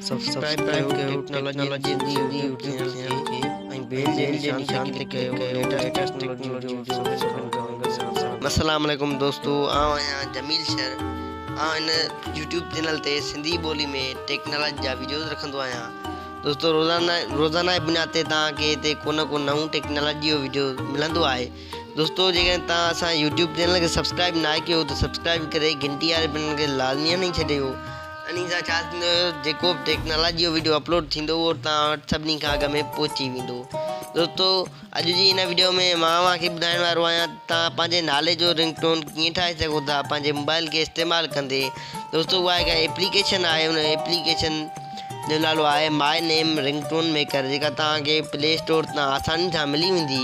Subscribe ڪيو technology جي YouTube channel کي ۽ بيل جي نشان تي ڪلڪ ڪيو ليٽيسٽ ٽيڪنالاجي جو سڀ ڪجهه ملندو السلام عليڪم دوستو آء آهيان جميل شر آء هن يوٽيوب چينل تي سنڌي ٻولي ۾ ٽيڪنالاجي جا ويڊيوز رکندو آهيان دوستو روزانه روزانه جي بنياد تي تان کي هتي ڪو نه ڪو نئون ٽيڪنالاجي جو ويڊيو ملندو آهي دوستو جيڪڏهن توهان اسان يوٽيوب چينل کي سبسڪرائب نه ڪيو ته سبسڪرائب ڪري گھنٽي واري بٽن کي لازمي هڻي ڇڏيو انهي سان ڇا ٿيندو جيڪو به ٽيڪنالاجي جو ويڊيو اپلوڊ ٿيندو اهو توهان وٽ سڀني کان اڳ ۾ پهچي ويندو دوستو اڄ جي هن ويڊيو ۾ مان اوهان کي ٻڌائڻ وارو آهيان ته توهان پنهنجي نالي جو رنگ ٽون ڪيئن ٺاهي سگھو ٿا پنهنجي موبائل کي استعمال ڪندي دوستو اها هڪ ايپليڪيشن آهي ان ايپليڪيشن جو نالو آهي my name ringtone maker جيڪا توهان کي پلي اسٽور تان آساني سان ملي ويندي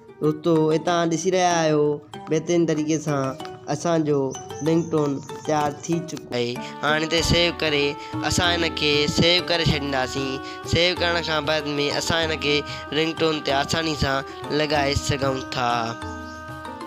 دوستو توهان ڏسي رهيا آهيو بهترين طريقي سان اسان جو رنگ ٽون تيار ٿي چڪو آهي هاڻي هتي سيو ڪري اسان هن کي سيو ڪري ڇڏينداسين سيو ڪرڻ کان بعد ۾ اسان هن کي رنگ ٽون تي آساني سان لڳائي سگهون ٿا.